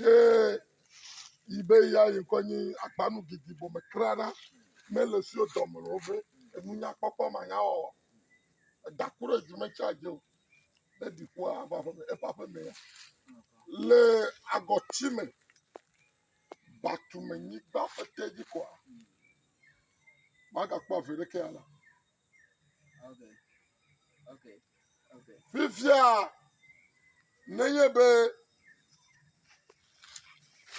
ye yi be ya yi ŋkɔ nyi agbanu ɖiɖi bɔ me kura ɖa me le si dɔ me o be enunya kpɔkpɔ ma nya wɔwɔ eda ku ɖe dzi me tsa dzi o ne ɖi ku ava ƒe me eƒe aƒe me ya le agɔti me batu me nyigba ƒe te dzi kɔa magakpɔ avi ɖeke ya la Fifia nenye be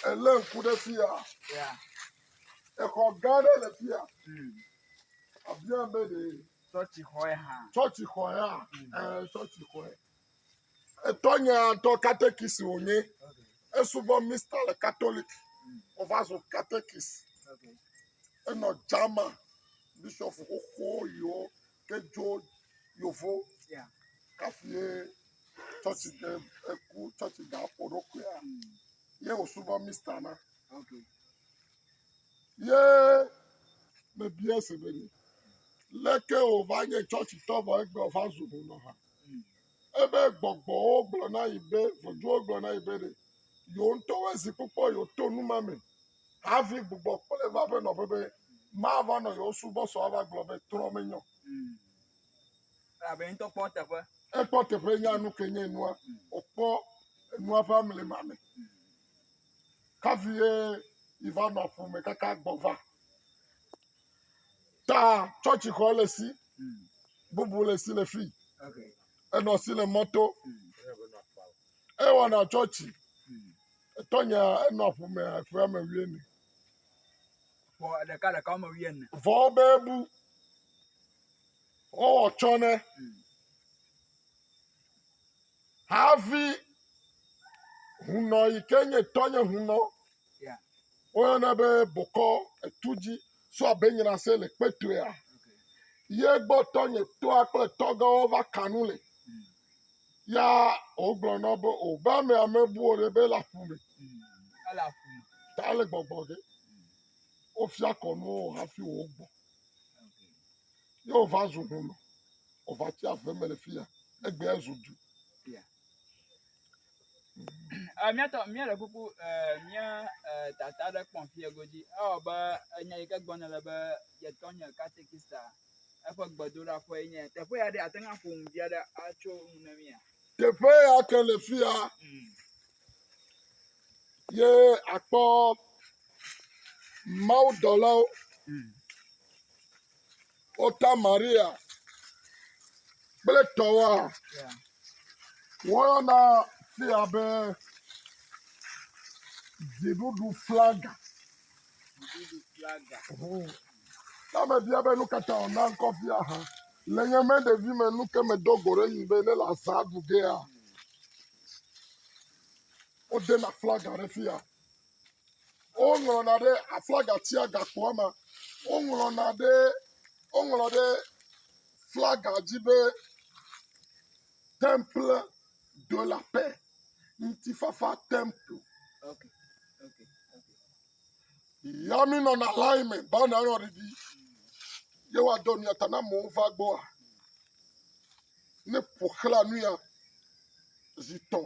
èlé ŋku ɖe fia, exɔ gã aɖe le fia. Àbiam be ɖe tsɔtsixɔe hã. Tsɔtsixɔe hã. Ɛɛ tsɔtsixɔe. Etɔnye ŋutɔ katekist wònye. Esubɔ Mista le Katolik. Wòva zu katekist. Enɔ German bishɔfu xoxo yiwo ke dzo yovo kafue tsɔtsi ke eku tsɔtsi ga ƒo ɖo kuea, ye wòsubɔ Mista ma. Ye mebiae se be, Leke wòva nye tsɔtsitɔ vɔ egbe wòva zu hunɔ hã? Ebe gbɔgbɔwo gblɔ na yi be, ʋɔtruwo gblɔ na yi be ɖe yewo ŋutɔwo zi kpɔkpɔ yewoto nu ma me havi gbugbɔ kplɔe va eƒe nɔƒe be mava nɔ yewo subɔsɔ ava gblɔ be trɔ menyɔ o. Elabe ye ŋutɔ kpɔ eteƒe. Ekpɔ teƒe nya nu ke nye nua. Wòkpɔ enua ƒe amlima me. Hafi ye yi va nɔ ƒome kaka gbɔ va. taa tsɔtsi xɔ le si bubu le si le fi enɔ si le mɔto ewɔna tsɔtsi etɔ nya enɔ ƒome eƒe ame wuiene vɔ ɖeka ɖeka ame wuiene vɔ be bu wɔwɔ tsɔ ne havi hunɔ yi ke nye tɔ nye hunɔ Woyɔnɛ be bokɔ etu dzi so abe nyinase le kpetoea. Ye gbɔ tɔnye tɔa kple tɔgãwo va ka nu le. Ya wogblɔ na be o be ame ame buwo ɖe be le aƒu me. Ta le gbɔgbɔ ge. Wofia kɔnu wo hafi wo gbɔ. Ye wova zu hunɔ. Wova tsi ave me le fiya. Egbe zu du. Eh, míatɔ míele kuku eh, mía eh, tata aɖe kpɔ fie godzi. Ewɔ be enya yi ke gbɔna le be yetɔ nye katekista eƒe gbedoɖaƒe nye teƒe ya ɖe ate ŋu aƒo nu vi aɖe atso nu na mía. Teƒe ya ke le fi ya Mm. ye akpɔ mawudɔlawo Mm. Wota Maria kple tɔwoa, woyɔna fia be dziɖuɖu flaga. Dziɖuɖu flaga. Ne ame bia be nu ka ta wòna ŋkɔ fia ha? Le nye me ɖevi me nu ke medo go ɖe nu be ne le azã ɖu gea, wodena flaga ɖe fia. Woŋlɔna ɖe aflagatia gakpoa me. Woŋlɔna ɖe, woŋlɔ ɖe flaga dzi be temple de la paix, ŋutifafa temple. Ya minɔna line me be anɔ anɔ ɖiɖi. Ye woadɔ mia ta ne amewo va gbɔa. Ne ƒoxla nu ya zi tɔ̃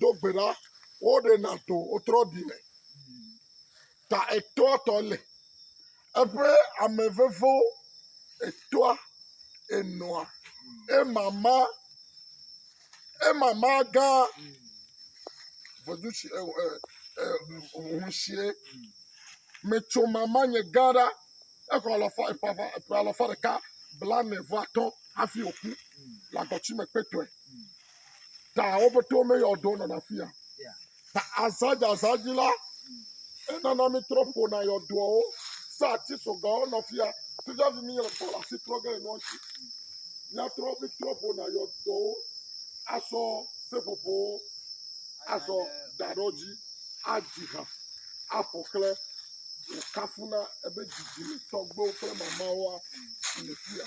Do gbe ɖa, woɖe na to wotrɔ ɖi me. Ta etoa tɔ le eƒe ame vevo etoa enɔa emama emama gã vedu si e e e hunsie metso mama nye gã ɖa exɔ alɔfa eƒe eƒe alɔfa ɖeka blanevɔ atɔ hafi wòku le agɔti me kpetɔe. ta wo ƒete wome yɔ do nana fi ya ta azadzazã dzi la enana mi trɔ ƒona yɔ doawo sa ati sɔgawo nɔ fi ya tujavi mi yɔ do asi trɔ ge nɔ si miatrɔ mi trɔ ƒona yɔ doawo asɔ seƒoƒowo asɔ daɖɔ dzi adzi ha afɔ kle kafuna ebe dzidzi mi tɔgbewo kple mamawoa le fi ya.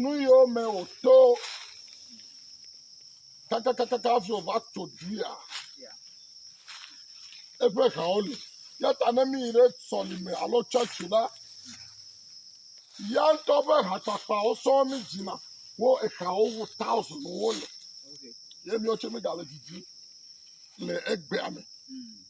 nu yiwo me wòto kakakaka hafi wòva tso duia, eƒe hawo li. Eya ta ne míyi ɖe sɔlime alo tsɔtsi la, ya ŋutɔ ƒe hakpakpawo sɔŋ mídzina. Wo ehawo wu taɔsiniwo le. Ye míawo tsɛ míegale didim le egbea me.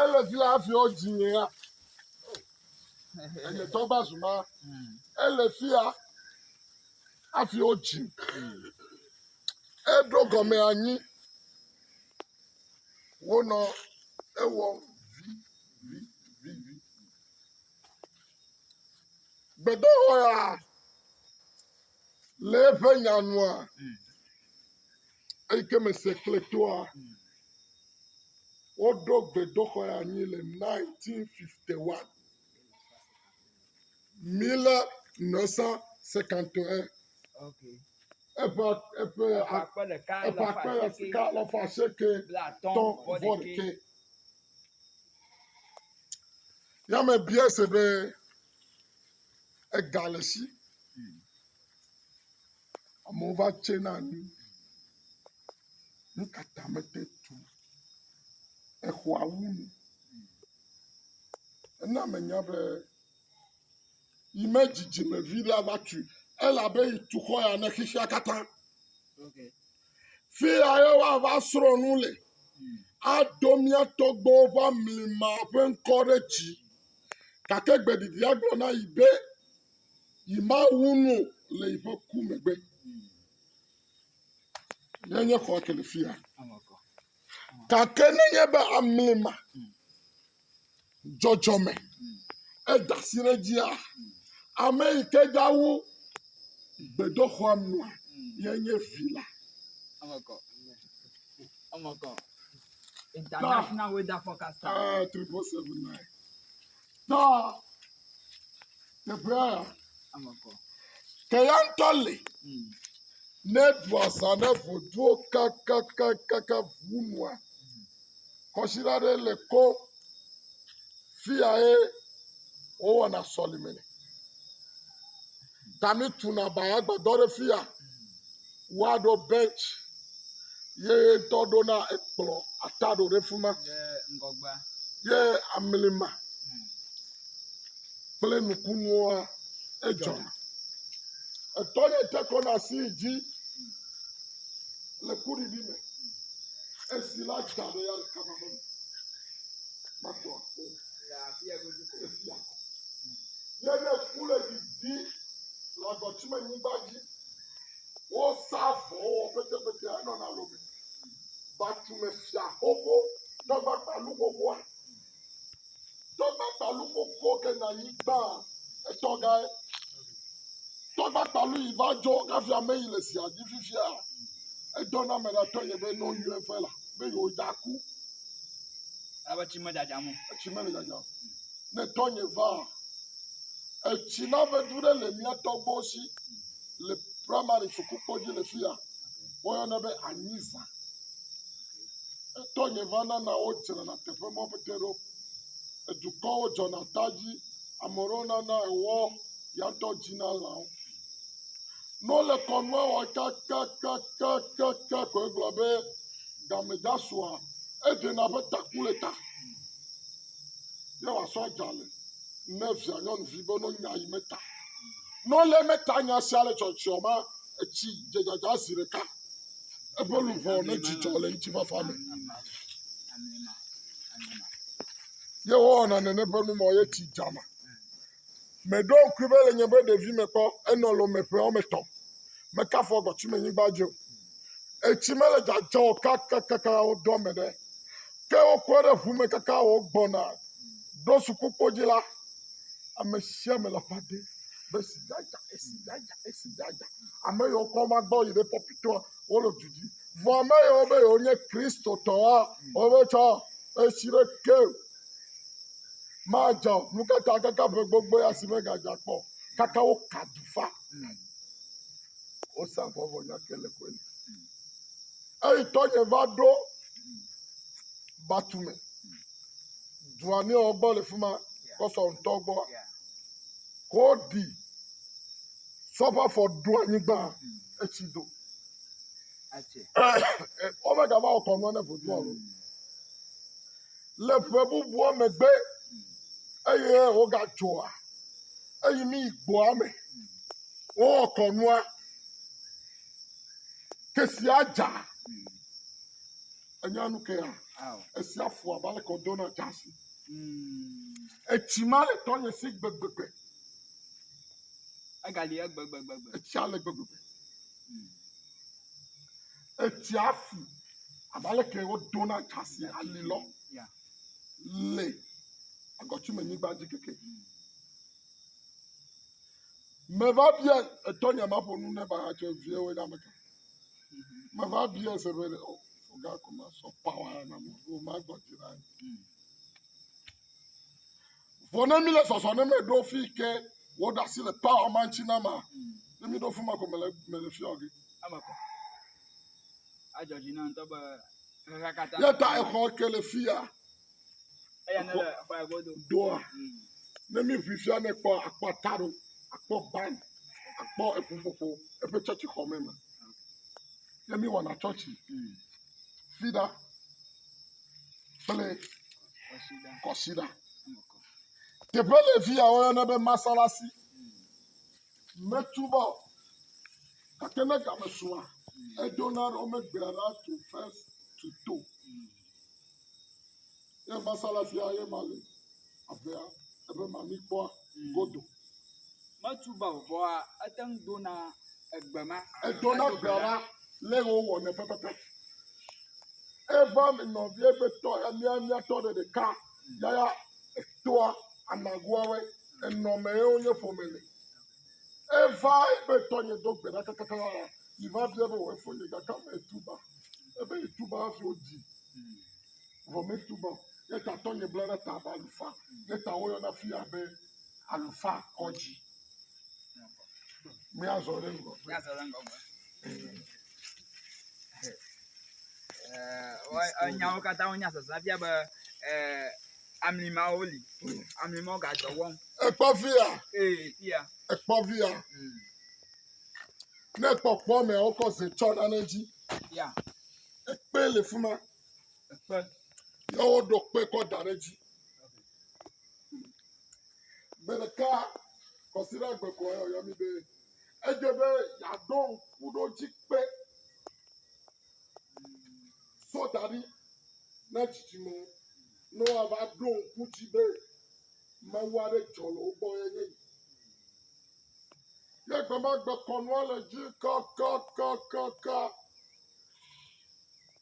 Ele vi la hafi wo dzi nye ya. Enye tɔgba zuma. Ele fi ya hafi wo dzi. Eɖo gɔme anyi. Wonɔ ewɔ vi vi vi vi. Gbedɔwɔ ya le eƒe nyanua. Eyi ke me se kple toa, woɖo gbedoxɔe anyi le 1951. Mile Nossa se canto é. Okay. Eƒe eƒe akpe ɖeka eƒe akpe ɖeka alafa asieke tɔ vɔɖeke. Yame bia se be ega le si. Amewo va tse na nu. Nu ka ta mete tu exɔa wu nu? Ena menya be yi me dzidzimevi la va tui elabe yi tu xɔ ya ne xexea katã. Fi ya ye woava srɔ̃ nu le. Aɖo mía tɔgbewo ƒe amlima ƒe ŋkɔ ɖe dzi. Gake gbeɖiɖia gblɔ na yi be, yi Mawu nu le yiƒe ku megbe. Nenye xɔ ke le fia. Gake nenye be amli ma dzɔdzɔ me eda si ɖe dzia, ame yi ke dawu gbedoxɔa nua ye nye vi la. International weather forecast. Uh, 3479. Tɔ teƒea ya. Ke ya ŋutɔ le. Hmm. Ne ɖu azã ɖe vodua kakakakaka ʋu nua, kɔsiɖa ɖe le ko fiya ye wowɔna sɔlime le. Dani tuna bayagbadɔ ɖe fi ya, woaɖo bench ye ŋutɔ ɖona ekplɔ ataɖo ɖe fi ma ye amlima kple nukunuwoa edzɔna. Etɔ ye te kɔ na asi yi dzi le kuɖiɖi me. Esi la dza ɖe ya ɖeka ma me. Matɔ akpɔ o. Yene ku le didi le agɔtime nyigba dzi. Wosa avɔ wɔ petepete henɔ na lo me. Batume fia xoxo tɔgba kpalu xoxoa. Tɔgba kpalu xoxo ke na nyigba etɔ gae. Tɔgba kpalu yi va dzɔ kafi ame yi le zia dzi fifia. Edɔ na ame ɖe atɔ ye be ne woyɔe vɛ la be yewo dza ku. Alebe tsi medzadzam o. Etsi mele dzadzam. Ne tɔnye va, etsi na vedu ɖe le mía tɔgbuiwo si le primary sukukpɔ dzi le fi ya. Woyɔnɛ be anyiza. Ne tɔnye va nana wodzrana teƒe mɔ pete ɖo. Edukɔwo dzɔna ta dzi. Ame aɖewo nana ewɔ, ya ŋutɔ dzina lãwo. Ne wole kɔnua wɔm kakakakaka koe gblɔ be game dza sua, edzena be taku le ta ye wòasɔ dza le ne via nyɔnuvi be no nya yi meta. Ne wole eme ta nya sia le tsɔtsɔ ma, etsi dze dzadza zi ɖeka. Eƒe luʋɔ ne dzidzɔ le ŋutifafa me. Ye wowɔna nene ƒe numɔ ye tsi dzana. Meɖo ŋkui be le nye be ɖevime kpɔ enɔ Lome ƒe wɔme etɔ̃. Mekafɔ gbɔ tsi menyigba dzi o. Etsi mele dzadzɔ o kakakaka wo do ame ɖe. Ke wokɔ ɖe ŋu me kaka wo gbɔna ɖo sukukpo dzi la, ame sia ame le aƒa dem be esi dzadza, esi dzadza, esi dzadza. Ame yiwo kɔ va gbɔ yi ɖe pɔpitoa, wole du dzi. Vɔ ame yiwo be yewonye Kristotɔwoa, wometsɔ etsi ɖeke o. Madzɔ o. Nu ka ta kaka ƒe gbogboe asi megadza kpɔ o? Kaka woka dufa. Wosa vɔ vɔ nya ke le koe me. Eyi tɔnye va ɖo Batume. Dua ne wo gbɔ le fi ma kɔsɔ ŋutɔ gbɔ. Ko ɖi sɔƒe afɔ ɖo anyigba etsi do. Womegava wɔ kɔnua ne vodua o. Le ƒe bubua megbe eye wogadzɔa eyi mi yi gbɔa me. Wowɔ kɔnua. Ke sia dza. Enya nu kea? Esia fu abe ale kɔ dona dza si. Etsi ma le tɔ nye si gbegbegbe. Egali egbegbegbe. Etsia le gbegbegbe. etsia fu abe aleke wodona dzasi ali lɔ le agɔtumenyigba dzi keke. Meva bia etɔ nya ma ƒo nu ne ba hatsɔ vie wo nya me ke. Meva bia se be o foga ko ma sɔ pawa na mo o ma gbɔ ti na. Vɔ ne mí le zɔzɔ ne mɛ ɖo fii ke wo ɖa si le power ma ŋtsi na ma, ne mí ɖo fuma ko me le me le fia oge. Eme kɔ. Adzɔ dzi na ŋtɔ be xexea katã. Ye ta exɔ ke le fia. Eya ne le exɔ ya godo. Doa. Mm. Ne mí ʋui fia ne kpɔ akpɔ ataro, akpɔ ban, akpɔ eƒuƒoƒo eƒe tsɔtsi xɔ me me. Ne mí wɔna tsɔtsi. Mm. Fida. kple kɔsiɖa. Teƒe le fi ya woyɔna be masalasi. Metu va o gake ne game sua edzona ɖo megbea ɖa tu fes tu to. Ye masalasia ye ma le. avea ebe mamikpɔa godo. Metu be vɔa ete ŋu dona egbe ma. Edona egbe la lé wowɔnɛ pɛpɛpɛ. Eva mi nɔvia be tɔ ya mía míatɔ ɖe ɖeka yaya etoa anagoawe enɔme ye wonye ƒome le. Eva ebe tɔnye do gbe ɖa kakaka yaya yi va bia be wɔ efo nye gakame etuba ebe etuba hafi wodzi. vɔ metu be o ye ta tɔnye bla ɖe ta abe alufa ye ta woyɔna fi ya be alufa kɔdzi. Míazɔ ɖe ŋgɔgbe. Míazɔ ɖe ŋgɔgbe. Ɛɛ nyawo katã wonya sese fia be ɛɛ amlimawo li. Amlimawo gadɔ wɔm. Ekpɔ fi ya. Ee fi ya. Ekpɔ fi ya. Mm. Ne ekpɔ kpɔ mea wokɔ ze tsɔ ɖa ɖe edzi. Ya. Ekpe le fi ma. ekpe ye woɖo kpe kɔ da ɖe edzi. Gbe ɖeka kɔsiɖa gbe ko ye wòyɔ mí be edze be yeaɖo ŋku ɖe wo dzi kpe so da ɖi na dzidzime ne woava ɖo ŋku dzi be Mawu aɖe dzɔ le wo gbɔ ye nye yi. Ye gbe ma gbe kɔnua le dzi kakakakaka.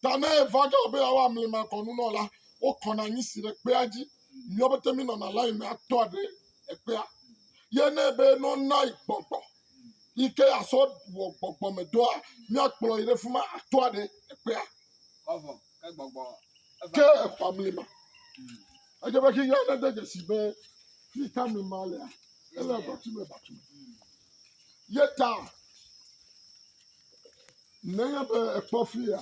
Ta ne eva ge be yeawa amlimakɔnu nɔ la, wokɔna anyi si ɖe kpea dzi. Míawo pete mínɔna layi me atɔa ɖe ekpea. Ye ne be nɔna yi gbɔgbɔ yi ke yeasɔ wɔ gbɔgbɔmedɔa, míakplɔ yi ɖe fi ma atɔa ɖe ekpea. Vavɔ, ke gbɔgbɔ eva. Ke eƒe amlima. Edze be xi ya nede dzesi be fi ka amlima lea, ele batume batume. Ye ta Nenye be èkpɔ fi ya,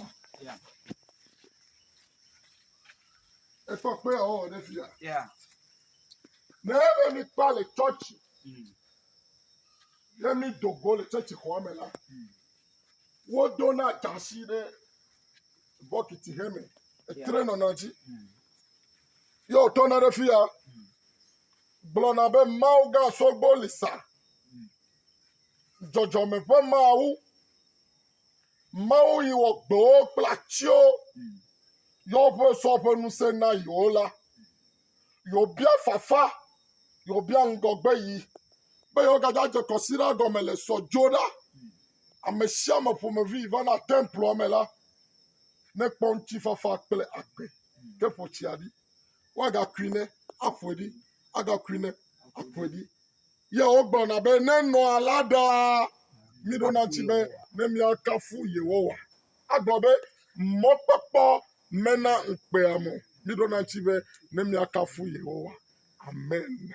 èkpɔ kpe yeawɔwɔ ɖe fi ya. Nenye be míkpa le tsɔtsi ye mído go le tsɔtsi xɔa me la, wodona dzasi ɖe bɔkiti he me etre nɔna dzi ye wòtɔna ɖe fi ya gblɔna be, Mawu gã sɔgbe li sa. dzɔdzɔme ƒe Mawu, Mawu yi wɔ gbewo kple atiwo, yɔ ƒe sɔ ƒe ŋusẽ na yewo la, yobia fafa, yobia ŋgɔgbe yi, be yewogada dze kɔsiɖa gɔme le sɔ dzo ɖa. Ame sia ame ƒomevi va na temploa me la, nekpɔ ŋutifafa kple agbe. Ke ƒo tsia ɖi, woagakui ne aƒoe ɖi, agakui ne aƒoe ɖi. Yewo gblɔna be, Ne nɔ alea ɖaa, míɖona ŋuti be ne míakafu Yehowa. Agblɔ be, Mɔkpɔkpɔ mena ŋukpea mɔ. Míɖona ŋuti be ne míakafu Yehowa. Amen.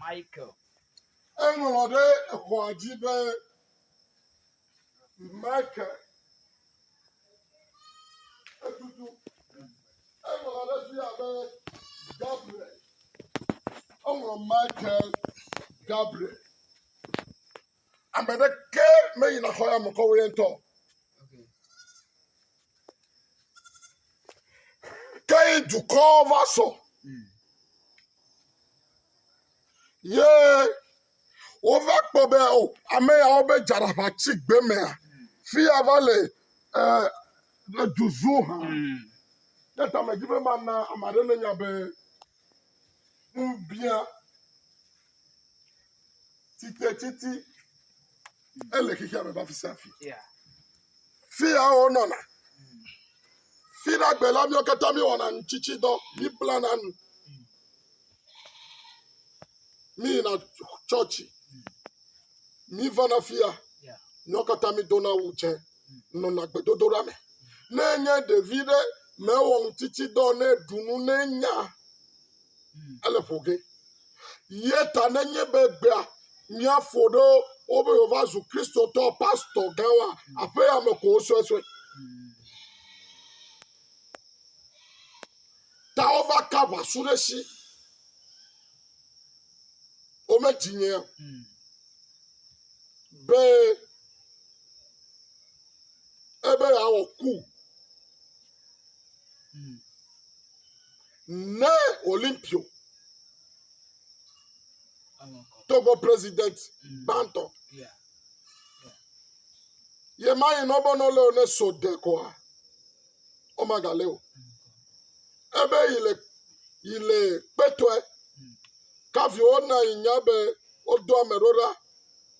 Michael. Eŋlɔ ɖe exɔa dzi be, Michael. Etutu. Eŋlɔ ɖe fi ya be, Gabriel. Eŋlɔ Michael Gabriel. Ame ɖeke meyina xɔ ya me kɔ wòye ŋutɔ. Ke yi dukɔ va sɔ. Ye wova kpɔ be o oh, ame yawo be dzaraƒa tsi gbe mea fi ya va le eh, le du zu hã. Ɖe hmm. ta me dzi be mana ame aɖe ne nya be. Ŋbia titetsiti ele xexea me va fi sia fi. Fi ya wonɔna. Fi la gbe la míawo katã míewɔna nutsitsidɔ. Míblana nu. Míyina tsɔtsi. Mivana afia, míawo katã mídona awu dzẽ, nɔna gbedodoɖa me. Ne enye ɖevi ɖe, mewɔ ŋutitsidɔ o, ne eɖu nu, ne enya, ele ƒo ge. Ye ta nenye be egbea mía fo ɖo wobe yeava zu Kristotɔ pastɔ gãwoa, aƒea me ko wosɔe sɔe. Ta wova ka ʋasu ɖe esi. Womedzi nye be ebe yeawɔ ku ne Olimpio Togo president gbãtɔ. Ye ma yi nɔ bɔnɔ le ne so de kɔa. womagalé o. Ebe yi le yi le kpetɔe. Kafi wona yi nya be wodo ame ɖo ɖa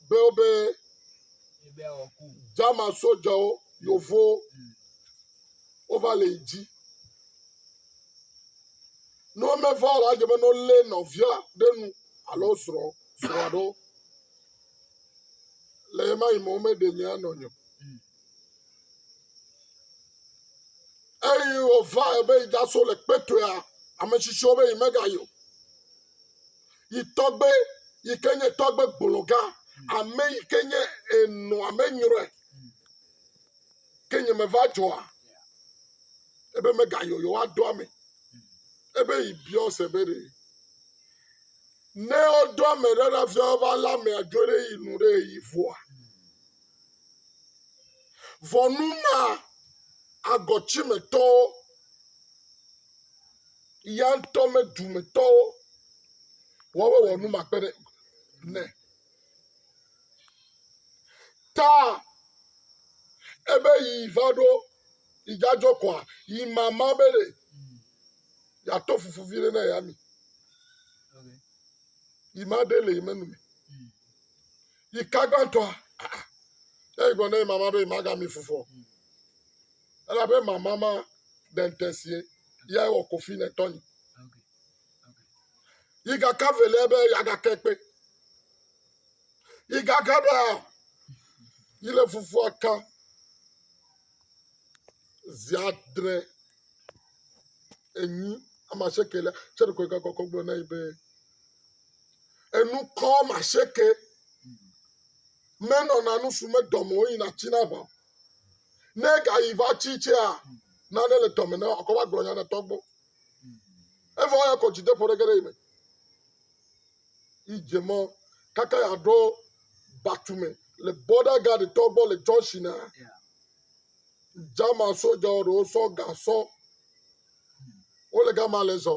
be wobe jama sojawo yovowo wova le yi dzi. Ne womeva o la, edze be ne wolé nɔvia ɖe nu alo srɔ̃ srɔ̃a ɖewo. Le ɣemaɣi me womeɖe nya nɔ nye o. eyi wòva ebe yi da so le kpetoea ame tsitsiwo be yi mega yi o yi tɔgbe yi ke nye tɔgbe gbologa ame yi ke nye enɔ ame nyrɔe ke nye me va dzɔa ebe mega yi o yewoa dɔ ame ebe yi biɔ se be ɖe ne wodɔ ame ɖe ɖa fia wova la amea dzo ɖe yi nu ɖe yi vɔa Vɔ nu ma agɔtsimetɔwo ya ŋutɔ me dumetɔwo wɔwɔ wɔ nu ma kpe ɖe ne. Ta ebe yi va ɖo yi jajɔ kɔa yi mama be ɖe yato fufu vi ɖe na ya mi. Yi ma ɖe le yi menu me. Yi ka gbãtɔa? Ne egblɔ ne mama be magami fufɔ. Elabe mama ma dentesie ya wɔ kofi ne tɔnyi. Yi ga ka velia be ya ga ke kpe. Yi ga ka da yi le fufua ka ziadre enyi ama sekele. Cɛ ɖe kɔ yi ka kɔkɔ gblɔ na yi be. enukɔ masheke menɔ na nusu medɔme o yina tsi na ʋa ne gayi va tsi tsia nane le dɔme na akɔ va gblɔ nya ne tɔgbɔ evɔ ya kɔ dzideƒo ɖe ge ɖe yi me yi dze mɔ kaka ya ɖo batume le border guard tɔgbɔ le junction na jama sojawo ɖewo sɔ gasɔ wole gama le zɔ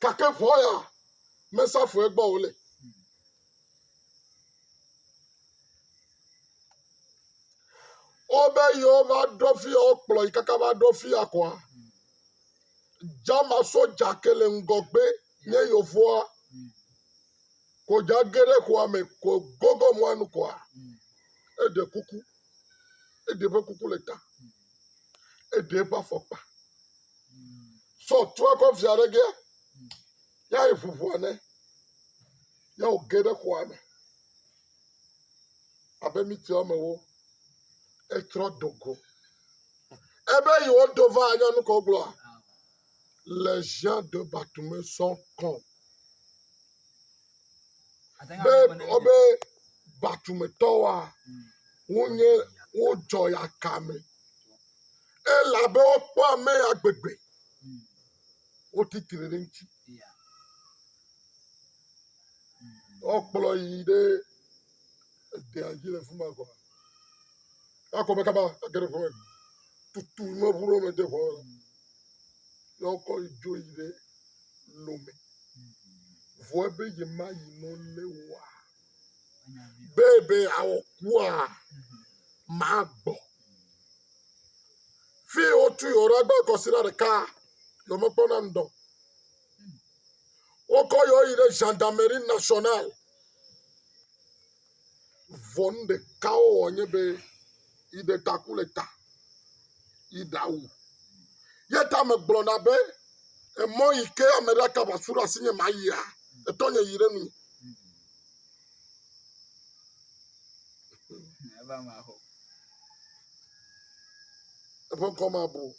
Gake ŋɔ ya mesa fue gbɔ o le. Wobe yewo va ɖo fi ya wokplɔ yi kaka va ɖo fi ya kɔa. Jama soja ke le ŋgɔgbe nye yevoa. Ko dza ge ɖe xɔa me ko gogo mɔa nu kɔa. Eɖe kuku. Eɖe ƒe kuku le ta. Eɖe eƒe afɔkpa. Sɔ trɔ eƒe via ɖe ge. Ya yi ʋu ʋɔa nɛ. Ya wòge ɖe xɔa me. Abe miti woamewo. Etrɔ do go. Ebe yewoɖo va nyɔnu ke wogblɔa? le Jean de Batume sɔ kɔn be wobe Batumetɔwoa wonye wodzɔ ya kame elabe wokpɔ ame ya gbegbe wotitire ɖe ŋuti wokplɔ yi ɖe Edea dzi le fuma gɔa. Akɔ me kaba age ɖe ƒome. Tutu me ʋu ɖe me de ʋɔ la. Ya wokɔ yi dzo yi ɖe lome. Vɔ ebe yi ma yi no le wa. Be ebe awɔ kua ma gbɔ. Fi wotu yi ora gba kɔsi la ɖeka. Yɔ me kpɔ na ŋdɔ. Wokɔ yɔ yi ɖe gendarmerie nationale. Vɔ nu ɖeka wowɔ nye be yiɖe taku le ta yi ɖa wu. Ye ta megblɔna be emɔ yi ke ame ɖe aka ʋasu ɖe asinye mayia etɔ nye yi ɖe nu. Eƒe ŋkɔ mabu o.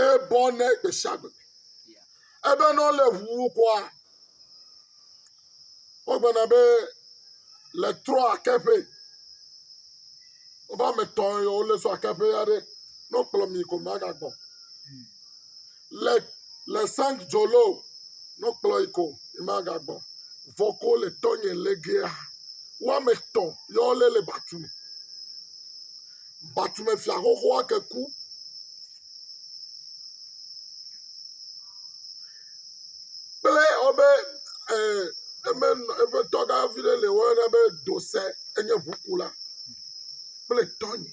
Ebɔ ne gbe sia gbe. Ebe ne wole ʋuwu kɔa, wogblɔna be le trɔ akeƒe. Woƒe ame etɔ̃ yewo le so akeƒe aɖe. Ne wokplɔ mi ko magagbɔ. Le le sang dzolo no kplɔ yi ko yi ma ga gbɔ vɔ ko le tɔ nye le ge a wa me tɔ yɔ le le batu me batu me fia xoxo a ke ku kple ɔbe ɛ eme eƒe tɔ ga vi ɖe le wɔ na be dose enye ʋukula kple tɔ nye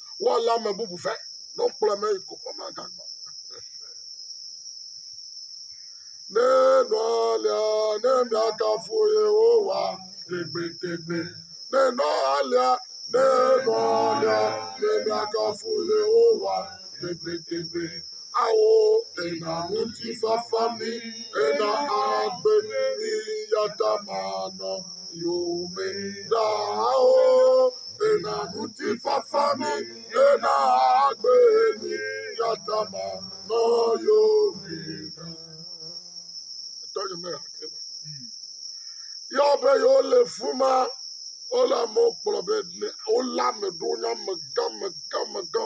woalé ame bubu vɛ ne wokplɔe va yi kɔƒe me agagbɔ. Ne nɔlia ne miakafu Yehowa tegbetegbe. Ne nɔlia ne nɔlia ne miakafu Yehowa tegbetegbe. awo ena ŋutifafa mi ena agbe mi yata manɔ yome ɖaawo ena ŋutifafa mi ena agbe mi yata manɔ yome ɖaa. Etɔ nye me hakɛ ma. Yɔ be yewo le fuma wole amewo kplɔ be wole ame ɖewo nye amegã megã megã.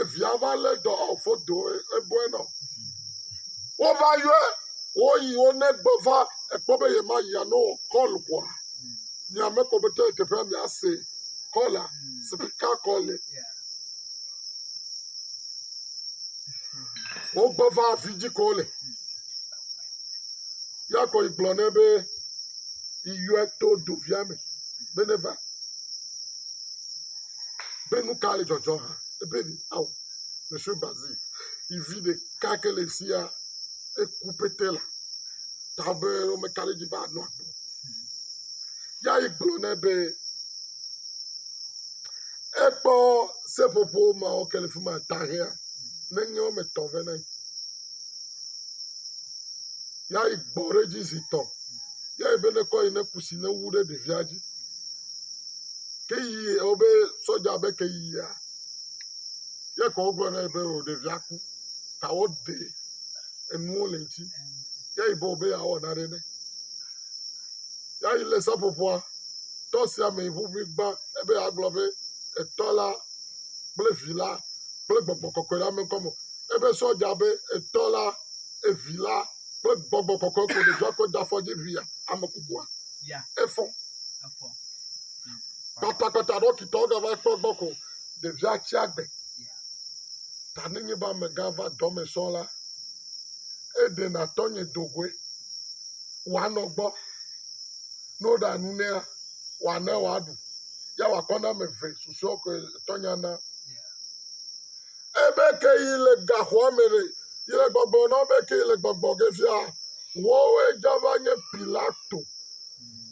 Evia va lé dɔ ɔ foto eboe nɔ. Wova yɔe woyi wo ne gbɔ va ekpɔ be yema yia no kɔl kɔa. Nye ame kɔ be tɔ teƒea mia se kɔla spika kɔle. Wo gbɔ va afi dzi ko le. Ya kɔ yi gblɔ ne be yi yɔe to dovia me be ne va. be nu ka le dzɔdzɔ hã ebe ɖe ao monsieur Bazil yi vi ɖeka ke le sia eku pete la ta be womeka ɖe edzi be anɔ agbe o. Ya yi gblɔ nɛ be ekpɔ seƒoƒo mawo ke le fi ma tahea nenye wɔme etɔ̃ vɛ na ye. Ya yi gbɔ ɖe edzi zi tɔ̃ ya yi be nekɔ yi ne kusi newu ɖe ɖevia dzi. Ke yi eo be sɔdja be ke yi ya. Ye ke wo gblɔ nɛ be o ɖevia ku ta wo ɖe enuwo le ŋti. Ye yi be o be ya wɔ na ɖe nɛ. Ya yi le seƒoƒoa tɔ sia me yi ƒuƒui gba ebe ya gblɔ be etɔ la kple vi la kple gbɔgbɔ kɔkɔe la me ŋkɔ me. Ebe sɔdja be etɔ la, evi la kple gbɔgbɔ kɔkɔe ko ɖevia kɔ de afɔ dzi via ame kukua. efɔ kpatakpata ɖɔkita wogava kpɔ gbɔ ko ɖevia tsi agbe ta ne nye be amegã va dɔme sɔ la eɖena tɔnye do goe wòanɔ gbɔ ne woɖa nu nɛa wòana wòaɖu ya wòakɔ na ame eve susɔewo koe tɔnye ana Ebe ke yi le gaxɔa me ɖe, yi le gbɔgblɔ nɔn be ke yi le gbɔgblɔ ge fia, wɔwɔe dza va nye Pilato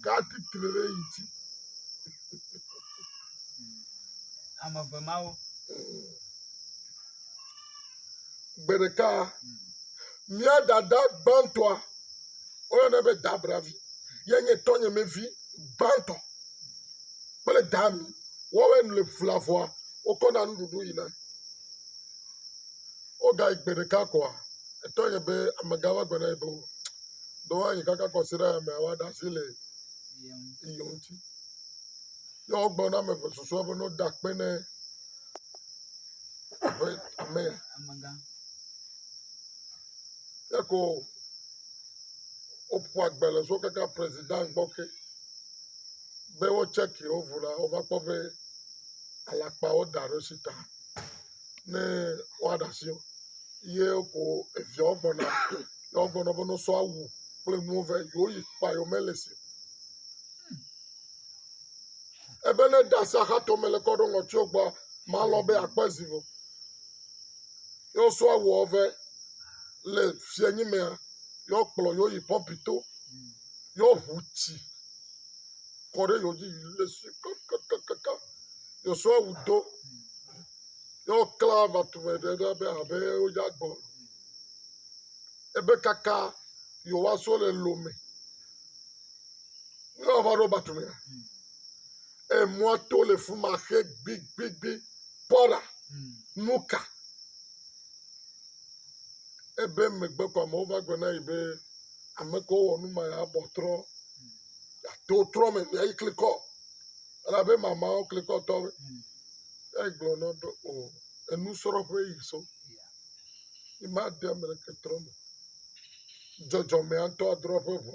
ga titri ɖe yi dzi. Ame eve mawo. Gbe ɖeka, mía dada gbãtɔa, woyɔnɛ be Dabravi, ye nye tɔnyemevi gbãtɔ. kple daa mi. Woawoe le ƒlea ƒua. Wokɔna nuɖuɖu yina. Wogayi gbe ɖeka koa, etɔ yɛ be amegã va gblɔ na yɛ be o, ɖo woayi kaka kɔsiɖayamea woaɖe asi le ye ŋuti. Yɛ wogblɔ na ame eve susɔewo be ne woda akpe ne aƒe amea. Yɛ ko woƒo agbalẽ so kaka prezida gbɔ ke. be wo tsɛki wo ŋu la, wova kpɔ be alakpawo da ɖo si ta ne woaɖe asi o. Ye ko eviawo gbɔna ne wogblɔ na wo be ne wosɔ awu kple nuwo vɛ yewoyi kpɔa yewomeli si o. Ebe ne eɖe asi axatome le kɔ ɖo ŋɔtiwo gbɔa, malɔ̃ be yeakpɔ zi o. Ne wosɔ awuawo vɛ le fiẽnyimea, yewoakplɔ yewoyi pɔpi to, yewoaʋu tsi. kɔ ɖe yewo dzi yi le si kakakakaka Yosua wu do ye wokla aʋatume ɖe ɖa be abe wodze agbɔ ene. Ebe kaka yewoaso le lome ne woava ɖo batumea. Emɔa to le fi ma xe gbigbigbi. Kpɔ ɖa, nu ka? Ebe megbe ko amewo va gblɔ na ye be ame kewo wɔ nu ma abɔ trɔ. Ato trɔ me via yi klikɔ. Elabe mamawo klikɔ tɔ. Egblɔ na be o enusrɔ̃ƒe yi so. Yi ma de ame ɖeke trɔ me. Dzɔdzɔme atɔ adrɔ ƒe ʋɔnu.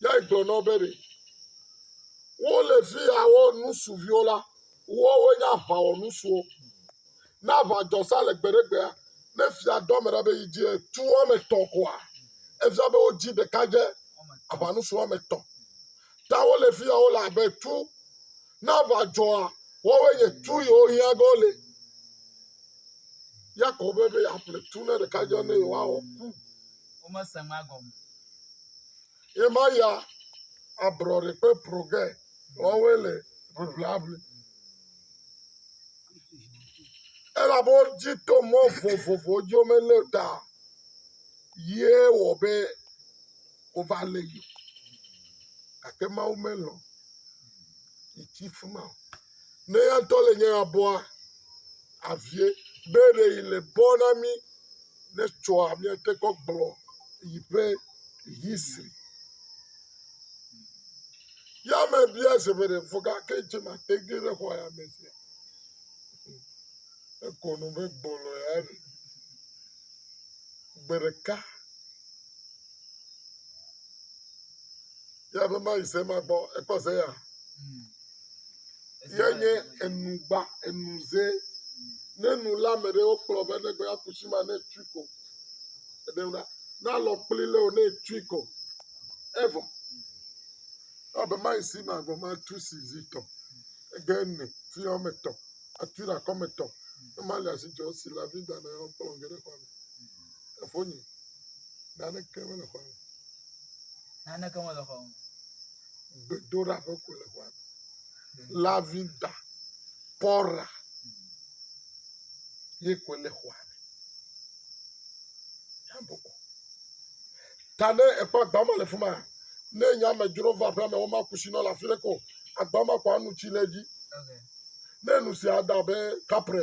Ya egblɔ na wo be ɖe wole fi ya wɔ nusu viwo la, woawoe nye aʋawɔnusuwo. Ne aʋa dzɔ sa le gbe ɖe gbea, ne fia dɔ ame ɖa be yi dzi etu woame etɔ̃ koa, efia be wodzi ɖeka dze aʋanusu woame etɔ̃. Ta wole fi ya wole abe tu. Ne aʋa dzɔa, woawoe nye tu yiwo hiã be wole. Ya kɔ be be yeaƒle tu ne ɖeka dzɔ ne yewoawɔ ku. womese nua gɔme. Ye ma ya abrɔɖe kpe proge wɔwɔe le ʋliʋliaʋli. Elabe wodzi to mɔ vovovowo dzi womelé ɖa ye wɔ be wova lé yi o. Gake Mawu melɔ̃ yi tsi fi ma o. Ne eya ŋutɔ le nye habɔa, avie. Be ɖe yi le bɔ na mí ne tsɔa míate kɔ gblɔ yi ƒe history. Ya me bia zebe ɖe fɔga ke dze ma te ge ɖe xɔ ya me sia. Ekɔ nu be gbɔlɔ ya ɖe. Gbe ɖeka. Ye abe ma yi se ma gbɔ ekpɔ ze ya. Ye nye enu gba enu ze. Ne nu la me ɖe wokplɔ be ne gbe ya kusi ma ne tui ko. Ede na na lɔ kpli le o ne tui ko. Evo. Abe ma yi si ma gbɔ ma tu si zi tɔ. Ege ne fi yɔ me tɔ. Atui la kɔ me tɔ. Ne ma le asi jɔ si la vida na yɔ kplɔ ge ɖe kɔ me. Efonye. Naneke mele xɔa me. Naneke mele xɔa me. Gbedoɖa ƒe ko le xɔa me. Lavinda, pɔra ye ko le xɔa me. Yabɔbɔ. Ta ne ekpɔ agba ma le fi ma, ne nye amedzro va aƒea me, woma kusi nɔ le afi ɖe ko. Agba ma ko anu tsi le edzi. Ne nu sia da be kapre,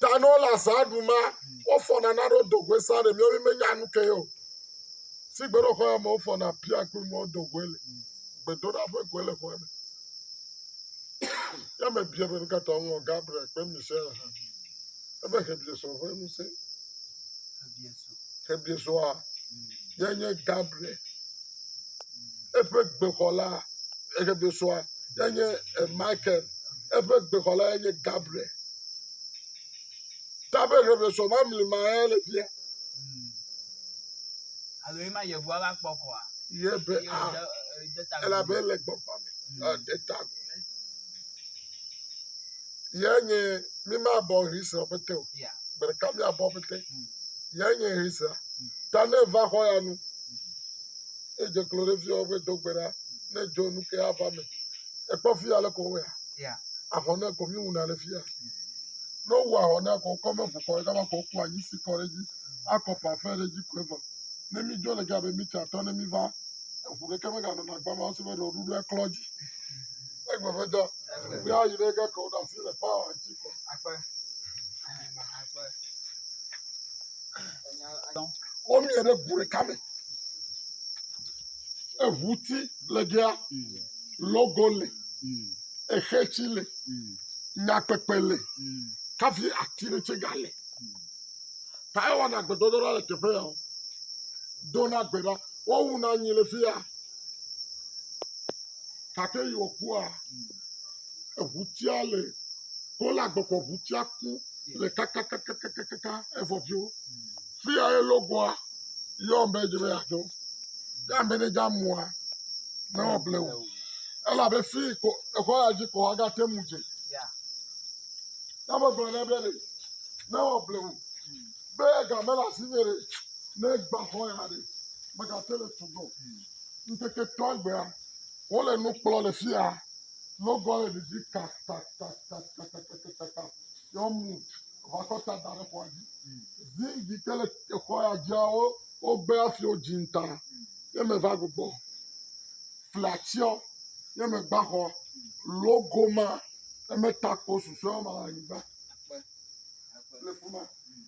Tanɔ la za ɖu ma, wofɔ na na ɖo dogwe sa ɖe miawo me nya nu ke yo. Si gbe ɖo xɔa me wofɔ na pia kple mɔ dogwe le. Gbe do ɖa ƒe gwe le xɔa me. Ya me bia be nuka ta ŋlɔ Gabriel kple Michelle ha. Ebe he bia sɔ ƒe nu se. Xebizua ye nye Gabriel. Eƒe gbexɔla, Xebizua ye nye eh, Michael. Eƒe gbexɔla ye nye Gabriel. Ta be Xebizua mamli ma ye le fia. Alo ye ma Yehowa va kpɔ kɔa? Ye be Ye a, wòde- eh, de ta gome. elabe ele gbɔgbɔ me, ede ta gome. Yae nye mímabɔ ʋiza pete o. Gbe ɖeka míabɔ pete. Yae nye ʋiza. Ta ne va xɔ ya nu, ne dze klo ɖe fiɔ be do gbe ɖa, ne dzo nu ke ava me. Ekpɔ fi ya le ko wea? Ahɔn ne ko mi wuna le fi ya. Ne wowu ahɔn ne ko kɔ me ƒo kɔ ɖe gama ko ku anyi si kɔ ɖe dzi. Akɔ pafɛ ɖe dzi ko evɔ. Ne mi dzo le ga be mi tsa tɔ ne mi va eŋu ɖeke me ga nɔna gbama o se be ɖe woɖuɖu eklɔ dzi. Egbe ƒe dɔ. Kple ayi ɖe ge ke woɖo asi le pawa ŋuti ke. Akpe. Akpe. Womie ɖe ŋu ɖeka me. Eŋuti le gea, logo le, exetsi le, nyakpekpe le, kafi ati ɖe tse ga le. Ta ewana agbedodo ɖa le teƒe ya o. Dona gbe ɖa. Wowu na nyi le fi ya. gake yi wòkua, eŋutia le wole agbɔgbɔ ŋutia ku le kakakakakaka evɔ dzo. Fi ya ye logoa yɔ be edzi be yeadzo. Ne ame ɖe dze amea, ne woable wò o. Elabe fi ko exɔ ya dzi ko woagate ŋu dze. Ne wogblɔ nɛ be ɖe ne woable wò be ega mele asinye ɖe, ne egbã xɔ ya ɖe, mègate le tugbɔ o. Ŋkeketɔa gbea, wole nu kplɔ le fia. Logɔ le ɖedzi kakakakakakakakakaka. Ye womu ʋakɔ ta da ɖe xɔa dzi. Ziŋgli ke le exɔ ya dzia, wo wogbe hafi wodzi ta. Ye meva gbugbɔ flatsiɔ, ye megba xɔ logo ma. Ye meta kpo susɔewo ma le anyigba le fi ma.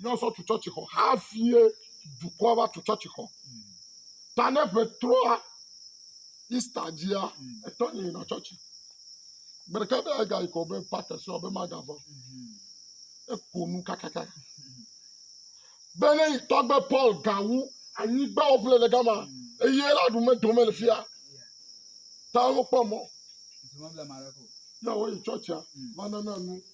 Míazɔ tu tsɔtsixɔ hafie dukɔa va tu tsɔtsixɔ. Ta ne ƒe trɔa Ista dzia, etɔ nye yina tsɔtsi. Gbe ɖeka be egayi kɔ be pate so abe magava. Eko nu kakaka. Be ne yi tɔgbe Paul gawu anyigba woƒle le gama eye la ɖu medome le fia. Ta wokpɔ mɔ. Yawo yi tsɔtsia va nana nu.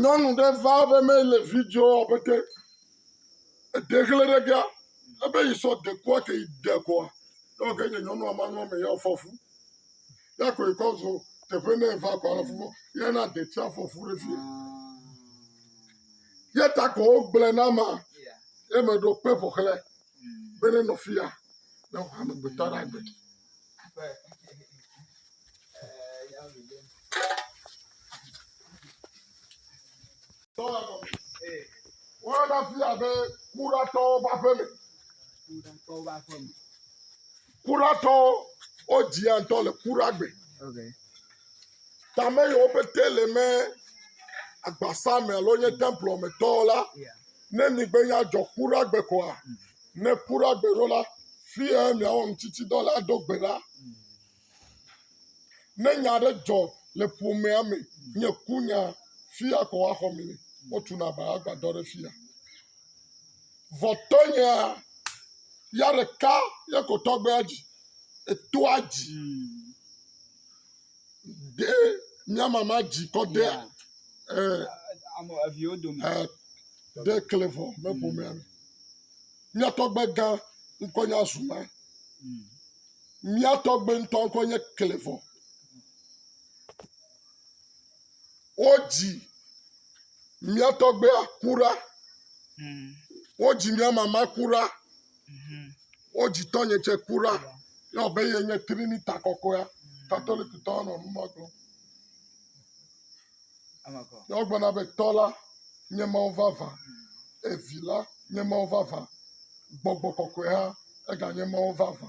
Nyɔnu ɖe va be me le video wɔ be te ede xle ɖe ga ebe yi sɔ dekua ke yi de kɔa yɔ ge nye nyɔnua ma nɔ me yɔ fɔfu ya ko yi kɔ zo teƒe ne va kɔ afɔ ya na detsia fɔfu ɖe fi. Yeta kɔ wogblẽ na ma ye me ɖo kpe ƒo xlɛ be ne nɔ fia ne wòxɔ amegbetɔ ɖe agbe. Woana fia be kuɖatɔwo ƒe aƒeme. Kuɖatɔwo ƒe aƒeme. Kuratɔwo, wodzia ŋutɔ le kuragbe. Okay. Tame yiwo pete le me agbasa me alo nye templɔ me tɔ la, ne migbe ya dzɔ kuragbe koa, mm. ne kuragbe ɖo la, fia miawɔ ŋutiti dɔ la do gbe ɖa. Mm. Ne nya aɖe dzɔ le ƒomea me mm. nye kunya fia ko axɔ mi ne wotuna ba agbadɔ ɖe fia. Vɔ tɔnyea, ya ɖeka ye ko tɔgbea dzi, etoa dzi. De mia mama dzi kɔ de ɛ Ame eviwo dome. ɛ de kle vɔ me ƒomea me. Mia tɔgbe gã ŋkɔ nye azuma. Mia tɔgbe ŋutɔ ŋkɔ nye kle vɔ. Wodzi mía tɔgbea ku ɖa. Mm. Wodzi mía mama ku ɖa. Mm-hmm. Wodzi tɔnye tsɛ ku ɖa. Yɔ be ye nye Trinita kɔkɔea. Mm. Katolikitɔ nɔ nu ma gblɔm. Yɔ gblɔna be tɔ la nye Mawu vavã. Mm. Evi la nye Mawu vavã. Gbɔgbɔ kɔkɔe hã eganye Mawu vavã.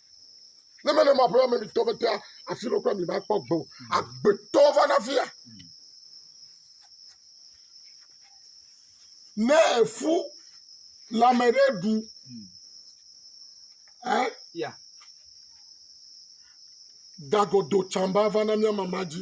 Ne mele ma ƒe ameɖitɔ be tea afi ɖo kple mi ma kpɔ gbɔ. Agbetɔ va na fia. Ne efu le ame ɖe ɖu. Eh? Yeah. Dagodo tsamba va na mia mama dzi.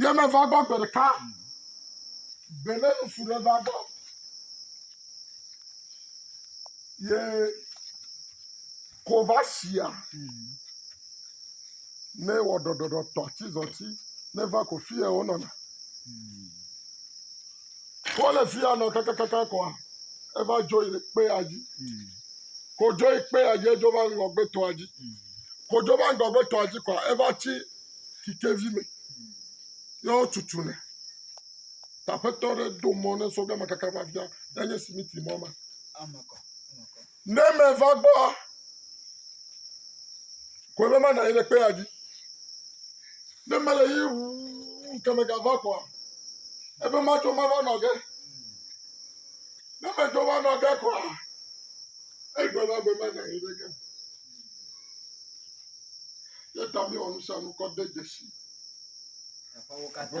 Ye meva gbɔ gbe ɖeka, gbe ɖe ŋutsu ɖe va gbɔ ye ko va shia ne wɔ ɖɔɖɔɖɔ tɔtizɔti ne va ko fiye wonɔna. Kɔ le fia nɔ kakakaka kɔa, eva dzo yi kpea dzi. Ko dzo yi kpea dzi edzo va ŋgɔgbetɔa dzi. Ko dzo va ŋgɔgbetɔa dzi kɔa, eva tsi kikevi me. Ye wotutu nɛ. Taƒetɔ ɖe do mɔ ne sɔgbe makaka va fia. Enye simiti mɔ ma. Ne meva gbɔa, koe be manɔ anyi ɖe kpea dzi. Ne mele yi ʋuu ke megava koa, ebe matso mava nɔ ge. Ne metso va nɔ ge koa, egbe la gbe manɔ anyi ɖe ge. Ye ta míewɔ nu sia nu kɔ de dzesi. Aƒewo katã.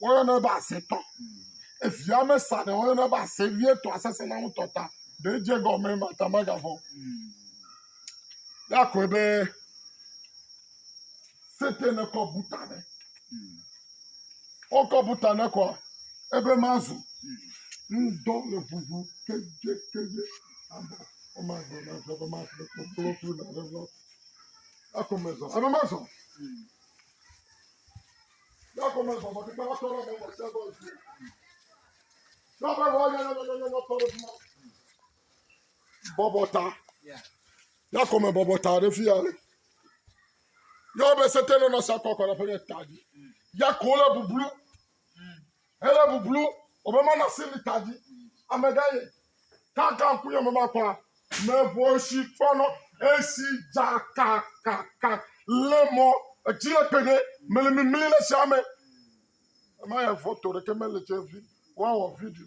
woyɔnɛ be asetɔ. Evia me sa ɖe woyɔnɛ be ase vie tɔ asese na ŋutɔ ta. Ɖe edze gɔme mata magavɔ. Ya kɔe be sete ne kɔ buta ne. Wokɔ buta ne kɔa ebe mazu. Ŋdɔ le ʋuʋu kedze kedze. Abo ɔma gbɔ na fɛ be ma fɛ kpokplo tu na ɖe vɔ. Akɔ me zɔ. Ebe ma zɔ. Bɔbɔ ta. Ya kɔme bɔbɔ ta ɖe fi ya. Yɔ be sete nɔ nɔ sa kɔ kɔ ɖe ƒe ta dzi. Ya ko le bublu. Hele bublu wobe ma na sini ta dzi ame gã ye. Kaka ŋku yɔ me ma kpa me vo si kpɔ nɔ esi dza kakaka le mɔ edzi le kpe ɖe me le mimli le sia me. Ema ya foto ɖeke me le tse vi wa wɔ video.